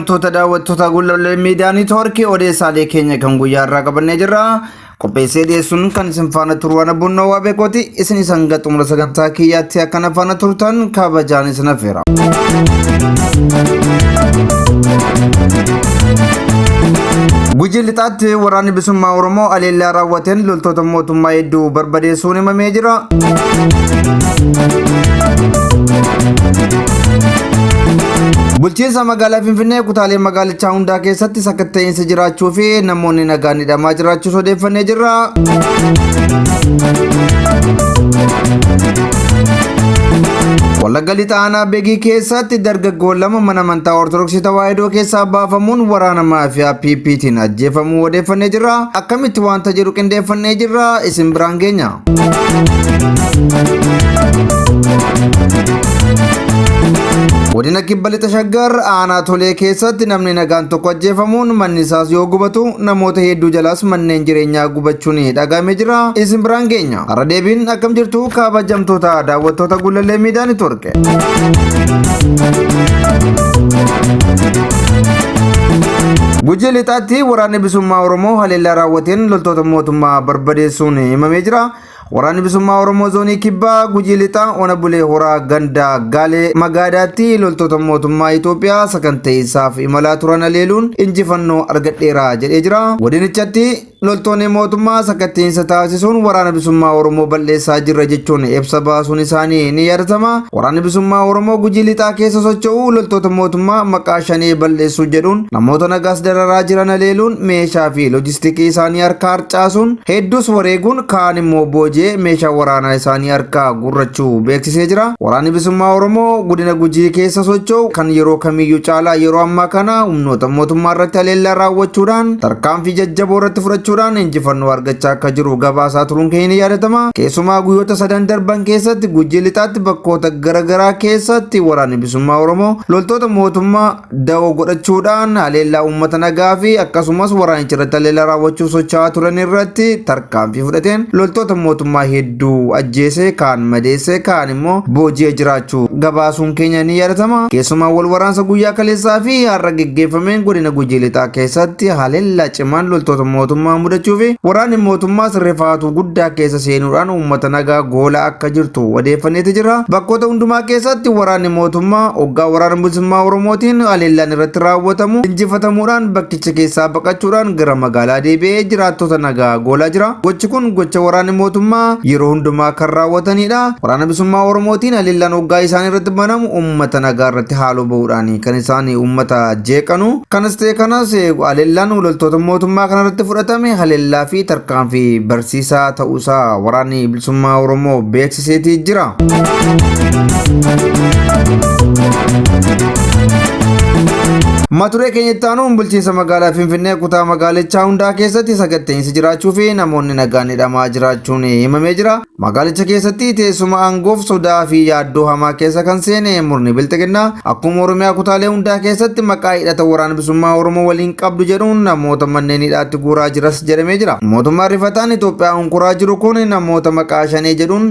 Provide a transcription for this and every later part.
Kabajamtoota daawwattoota Gullallee Miidiyaa Niitoorkii odeessaalee keenya kan guyyaa irraa qabannee jirra. Qopheessee dhiyeessuun kan isin faana turu waan abbuunnoo waa beekooti. Isin isa hanga xumura sagantaa kiyyaatti akka na faana turtan kabajaan isin affeera. Gujii lixaatti waraanni bilisummaa Oromoo aleellaa raawwateen loltoota mootummaa hedduu barbadeessuun himamee jira. Bulchiinsa Magaalaa Finfinnee kutaalee magaalichaa hundaa keessatti sakatta'iinsi jiraachuu fi namoonni nagaan hidhamaa jiraachuus odeeffannee jirra. Wallagga lixa aanaa Begii keessatti dargaggoon lama mana amantaa Ortodoksii Tawaahidoo keessaa baafamuun waraana maafiyaa PPtiin ajjeefamuu odeeffannee jirra. Akkamitti wanta jedhu qindeeffannee jirra isin biraan geenya. Godina kibba lixa shaggar aanaa tolee keessatti namni nagaan tokko ajjeefamuun manni isaas yoo gubatu namoota hedduu jalaas manneen jireenyaa gubachuun dhaga'amee jira. Isin biraan geenya. Har'a deebiin akkam jirtu kabajamtoota daawwattoota gullallee miidiyaa network. Gujii lixaatti waraanni bilisummaa Oromoo haleellaa raawwateen loltoota mootummaa barbadeessuun himamee jira. Waraanni bilisummaa Oromoo zoonii kibbaa gujii lixaa ona bulee horaa ganda gaalee magaadaatti loltoota mootummaa Itoophiyaa sakanteessaaf imalaa turan haleeluun injifannoo argadheera jedhee jira. Godinichatti Loltoonni mootummaa sakatta'insa taasisuun waraana bisummaa Oromoo bal'eessaa jirra jechuun ibsa baasuun isaanii ni yaadatama. Waraanni bisummaa Oromoo gujii lixaa keessa socho'u loltoota mootummaa maqaa shanee bal'eessuu jedhuun namoota nagaas dararaa jiran haleeluun meeshaa fi loojistikii isaanii harkaa harcaasuun hedduus wareeguun kaan immoo booji'ee meeshaa waraanaa isaanii harkaa gurrachuu beeksisee jira. Waraanni bisummaa Oromoo godina gujii keessa socho'u kan yeroo kamiyyuu caalaa yeroo ammaa kana humnoota mootummaa irratti haleellaa raawwachuudhaan tarkaanfii jajjaboo irratti fudhachuudhaan injifannoo argachaa akka jiru gabaasaa turuun keenya ni yaadatama. Keessumaa guyyoota sadan darban keessatti Gujii Lixaatti bakkoota garaagaraa keessatti waraanni bilisummaa Oromoo loltoota mootummaa dawoo godhachuudhaan haleellaa uummata nagaa fi akkasumas waraanicha irratti haleellaa raawwachuuf socho'aa turan irratti Tarkaanfii fudhateen loltoota mootummaa hedduu ajjeesee, kaan madeessee, kaan immoo booji'ee jiraachuu gabaasuun keenya ni yaadatama. Keessumaa wal waraansa guyyaa kaleessaa fi har'a geggeeffameen godina Gujii Lixaa keessatti haleellaa cimaan loltoota mootummaa mudachuu fi waraanni mootummaas rifaatuu guddaa keessa seenuudhaan uummata nagaa goolaa akka jirtu odeeffanneeti jirra. Bakkoota hundumaa keessatti waraanni mootummaa oggaa waraana bilisummaa Oromootiin haleellaan irratti raawwatamu injifatamuudhaan bakki Naannicha keessaa baqachuudhaan gara magaalaa deebi'ee jiraattota nagaa goolaa jira. Gochi kun gocha waraanni mootummaa yeroo hundumaa kan raawwatanidha. Waraana Bilisummaa Oromootiin haleellaan hoggaa isaan irratti banamu uummata nagaa irratti haaloo bahuudhaan kan isaan uummata jeeqanu. Kanas ta'e kanas haleellaan loltoota mootummaa kana irratti fudhatame haleellaa fi tarkaanfii barsiisaa ta'uusaa waraanni Bilisummaa Oromoo beeksisa. dhiseetii jira. Maturee keenyatti aanuun bulchiinsa magaalaa Finfinnee kutaa magaalichaa hundaa keessatti sakatta'insi jiraachuu fi namoonni nagaan hidhamaa jiraachuun himamee jira. Magaalicha keessatti teessuma aangoof sodaa fi yaaddoo hamaa keessa kan seene murni bilxiginnaa akkuma Oromiyaa kutaalee hundaa keessatti maqaa hidhata waraana bilisummaa Oromoo waliin qabdu jedhuun namoota manneen hidhaatti guuraa jiras jedhamee jira. Mootummaan rifataan Itoophiyaa Qoraa jiru kun namoota maqaa shanee jedhuun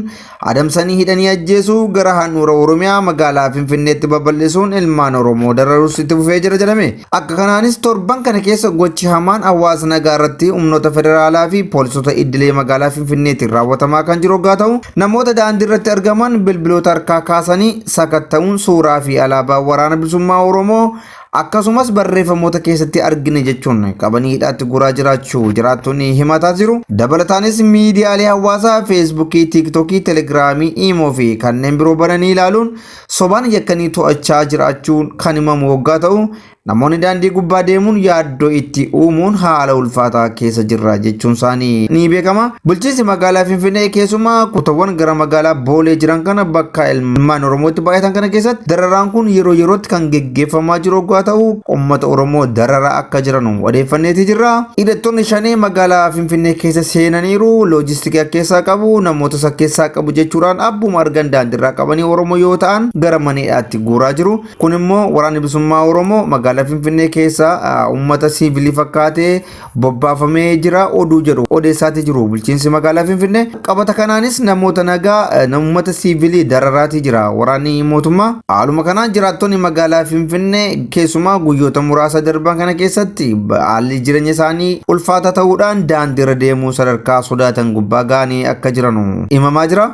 adamsanii hidhanii ajjeesuu gara handhuura Oromiyaa magaalaa Finfinneetti babal'isuun ilmaan Oromoo dararuus itti fufee jira jedhame. Akka kanaanis torban kana keessa gochi hamaan hawaasa nagaa irratti humnoota federaalaa fi poolisoota iddilee magaalaa Finfinneetiin raawwatamaa kan jiru oggaa ta'u namoota daandii irratti argaman bilbiloota harkaa kaasanii sakatta'uun suuraa fi alaabaa waraana bilisummaa Oromoo akkasumas barreeffamoota keessatti argine jechuun qabanii hidhaatti guraa jiraachuu jiraattonni himataa jiru. Dabalataanis miidiyaalee hawaasaa Feesbuukii, Tiiktookii, Telegiraamii, Iimoo fi kanneen biroo bananii ilaaluun sobaan yakkanii to'achaa jiraachuun kan himamu waggaa ta'u namoonni daandii gubbaa deemuun yaaddo yaaddoo itti uumuun haala ulfaataa keessa jirra jechuun isaanii ni beekama. Bulchiinsi magaalaa Finfinnee keessumaa kutawwan gara magaalaa Boolee jiran kana bakka ilmaan Oromootti baay'atan kana keessatti dararaan kun yeroo yerootti kan geggeeffamaa jiru oggaa ta'u uummata Oromoo dararaa akka jiran odeeffanneeti jirra. Hidhattoonni shanee magaalaa Finfinnee keessa seenaniiru, loojistikii akka keessaa qabu, namoota isa keessaa qabu jechuudhaan abbuma argan daandirraa qabanii Oromoo yoo ta'an gara mana hidhaatti guuraa jiru. Kun immoo waraanni bilisummaa Oromoo magaalaa Finfinnee keessa uummata siivilii fakkaatee bobbaafamee jira oduu jedhu odeessaatii jiru bulchiinsi magaalaa Finfinnee. Qabata kanaanis namoota nagaa uummata siivilii dararaatii jira waraanni mootummaa. Haaluma kanaan jiraattonni magaalaa Finfinnee keessumaa guyyoota muraasa darban kana keessatti haalli jireenya isaanii ulfaataa ta'uudhaan daandiirra deemuu sadarkaa sodaatan gubbaa ga'anii akka jiranu himamaa jira.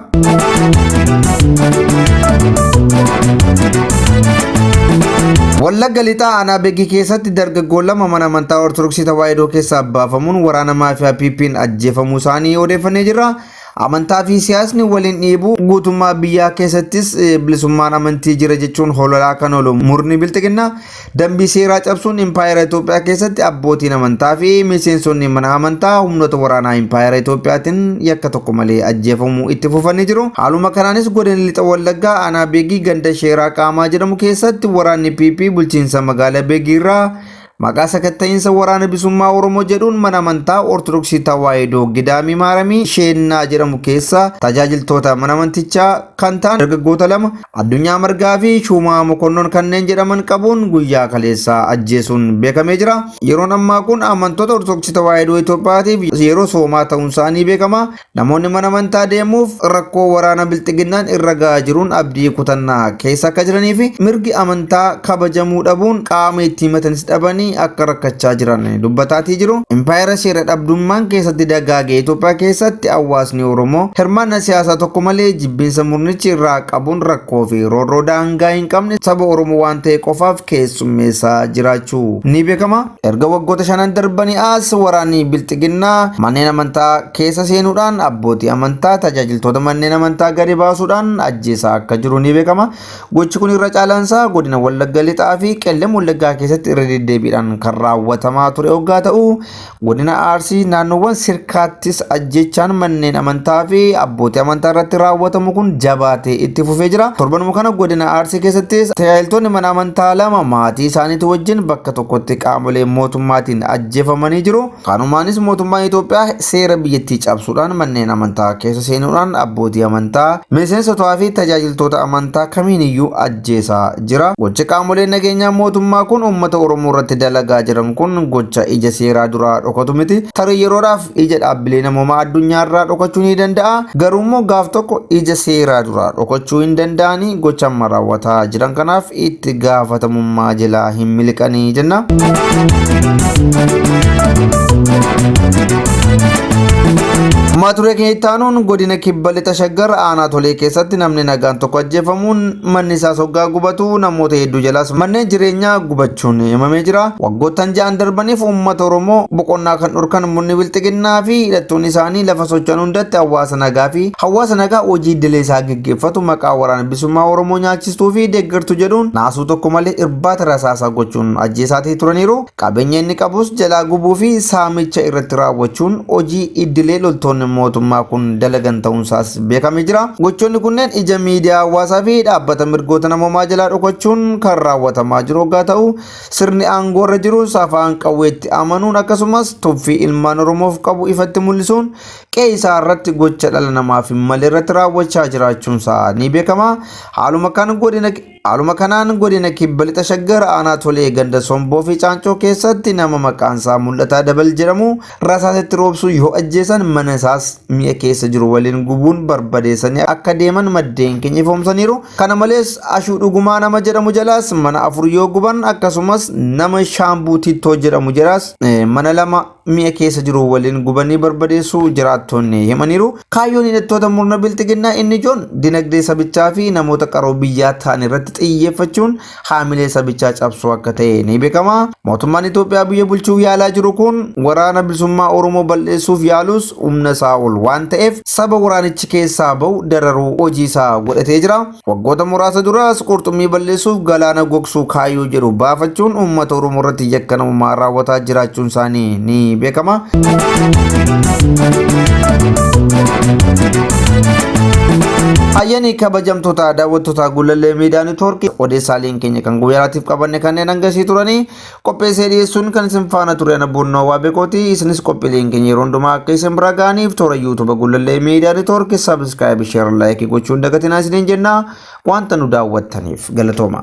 Wallagga lixaa aanaa Beegii keessatti dargaggoon lama mana amantaa Ortodoksii Tawaahidoo keessaa baafamuun waraana maafiyaa PP'n ajjeefamuu isaanii odeeffannee jirra. Amantaa fi siyaasni waliin dhiibuu guutummaa biyyaa keessattis eh, bilisummaan amantii jira jechuun hololaa kan oolu murni bilxiginnaa Dambii seeraa cabsuun Impaayera Itoophiyaa keessatti abbootiin amantaa fi miseensonni mana amantaa humnoota waraanaa Impaayera Itoophiyaatiin yakka tokko malee ajjeefamuu itti fufanii jiru. Haaluma kanaanis godina Lixa Wallaggaa aanaa Beegii ganda Sheeraa Qaamaa jedhamu keessatti waraanni PP bulchiinsa magaala Beegii irraa maqaa sakatta'iinsa waraana bisummaa Oromoo jedhuun mana amantaa Ortodoksii Tawaahidoo Gidaamii Maaramii Sheennaa jedhamu keessa tajaajiltoota mana amantichaa kan ta'an dargaggoota lama Addunyaa Margaa fi Shuumaa Mokonnon kanneen jedhaman qabuun guyyaa kaleessaa ajjeesuun beekamee jira. Yeroon ammaa kun amantoota Ortodoksii Tawaahidoo Itoophiyaatiif yeroo soomaa ta'uunsaa ni beekama. Namoonni mana amantaa deemuuf rakkoo waraana bilxiginnaan irra gahaa jiruun abdii kutannaa keessa akka jiranii fi mirgi amantaa kabajamuu dhabuun qaama itti himatanis dhabanii akka rakkachaa jiran dubbataatii jiru. Impaayera seera dhabdummaan keessatti dagaage Itoophiyaa keessatti hawaasni Oromoo hirmaannaa siyaasaa tokko malee Jibbinsa murnichi irraa qabuun rakkoo fi roorroo daangaa hin qabne saba Oromoo waan ta'e qofaaf keessummeessaa jiraachuu ni beekama. Erga waggoota shanan darbanii as waraanni Bilxiginnaa manneen amantaa keessa seenuudhaan abbootii amantaa, tajaajiltoota manneen amantaa gadi baasuudhaan ajjeesaa akka jiru ni beekama. Gochi kun irra caalaan isaa godina Wallagga Lixaa fi Qellem Wallaggaa keessatti irra deddeebiidhaan kan raawwatamaa ture oggaa ta'u, Godina Arsii naannoowwan sirkaattis ajjechaan manneen amantaa fi abbootii amantaa irratti raawwatamu kun jabaatee itti fufee jira. Torbanuma kana godina Arsii keessattis tajaajiltoonni mana amantaa lama maatii isaaniitii wajjin bakka tokkotti qaamolee mootummaatiin ajjeefamanii jiru. Kanumaanis mootummaan Itoophiyaa seera biyyattii cabsuudhaan manneen amantaa keessa seenuudhaan abbootii amantaa, miseensotaa fi tajaajiltoota amantaa kamiiniyyuu ajjeesaa jira. Gocha qaamoleen nageenyaa mootummaa kun uummata Oromoo irratti dalagaa jiran kun gocha ija seeraa duraa dhokatu miti. Tarii yeroodhaaf ija dhaabbilee namoomaa addunyaa irraa dhokachuu ni danda'a. Garuu immoo gaaf tokko ija seeraa duraa dhokachuu hin danda'ani. Gocha amma raawwataa jiran kanaaf itti gaafatamummaa jalaa hin miliqanii jenna. Mata duree keenya itti aanuun godina kibba lixa shaggar aanaa tolee keessatti namni nagaan tokko ajjeefamuun Manni isaas hoggaa gubatu namoota hedduu jalaas manneen jireenyaa gubachuun himamee jira. Waggoottan ja'an darbaniif uummata Oromoo boqonnaa kan dhorkan murni bilxiginnaa fi hidhattoonni isaanii lafa socho'an hundatti hawaasa nagaa fi hawaasa nagaa hojii iddilee isaa geggeeffatu maqaa waraana bilisummaa Oromoo nyaachistuu fi deeggartu jedhuun naasuu tokko malee irbaata rasaasaa gochuun ajjeesaatii turaniiru. Qabeenya inni qabus jalaa gubuu fi saamicha irratti raawwachuun hojii iddilee loltoonni mootummaa kun dalagan ta'uunsaas beekamee jira. Gochoonni kunneen ija miidiyaa hawaasaa fi dhaabbata mirgoota namoomaa jalaa dhokachuun kan raawwatamaa jiru hoggaa ta'u, sirni aangoo irra jirus afaan qawweetti amanuun akkasumas tuffii ilmaan Oromoof qabu ifatti mul'isuun qe'ee isaa irratti gocha dhala namaaf hin malle irratti raawwachaa jiraachuunsaa ni beekama. Haaluma kan godina Haaluma kanaan godina Kibba Lixa Shaggar aanaa Tolee ganda Somboo fi Caancoo keessatti nama maqaan isaa Mul'ataa Dabal jedhamu rasaasetti roobsuu yoo ajjeesan mana isaas mi'a keessa jiru waliin gubuun barbadeessanii akka deeman maddeen keenya ifoomsaniiru. Kana malees Ashuu Dhugumaa nama jedhamu jalaas mana afur yoo guban akkasumas nama Shaambuu Tittoo jedhamu jalaas mana lama mi'a keessa jiru waliin gubanii barbadeessuu jiraattoonni himaniiru. Kaayyoon hidhattoota murna bilxiginnaa inni ijoon dinagdee sabichaa fi namoota qaroo biyyaa ta'an irratti xiyyeeffachuun haamilee sabichaa cabsuu akka ta'e ni beekama. Mootummaan Itoophiyaa biyya bulchuuf yaalaa jiru kun Waraana Bilisummaa Oromoo bal'eessuuf yaalus humna isaa ol waan ta'eef saba waraanichi keessaa ba'u dararuu hojii isaa godhatee jira. Waggoota muraasa duraas qurxummii balleessuuf galaana gogsuu kaayyoo jedhu baafachuun uummata Oromoo irratti yakka namummaa raawwataa jiraachuun isaanii ni beekama. Ayyaanii kabajamtoota daawwattoota Gullallee Miidiyaa Neetwoorkii odeessaaleen keenya kan guyyaatiif qabanne kanneen hangasii turanii Qopheessee dhiyeessuun kan isin faana ture ana buunnoo waa beekooti isinis qophiileen keenya yeroo hundumaa akka isin bira ga'aniif toora yuutuuba gullallee miidiyaa neetwoorkii saabskraayibi sheer laayikii gochuun dagatinaa isiniin jenna wanta nu daawwattaniif galatooma.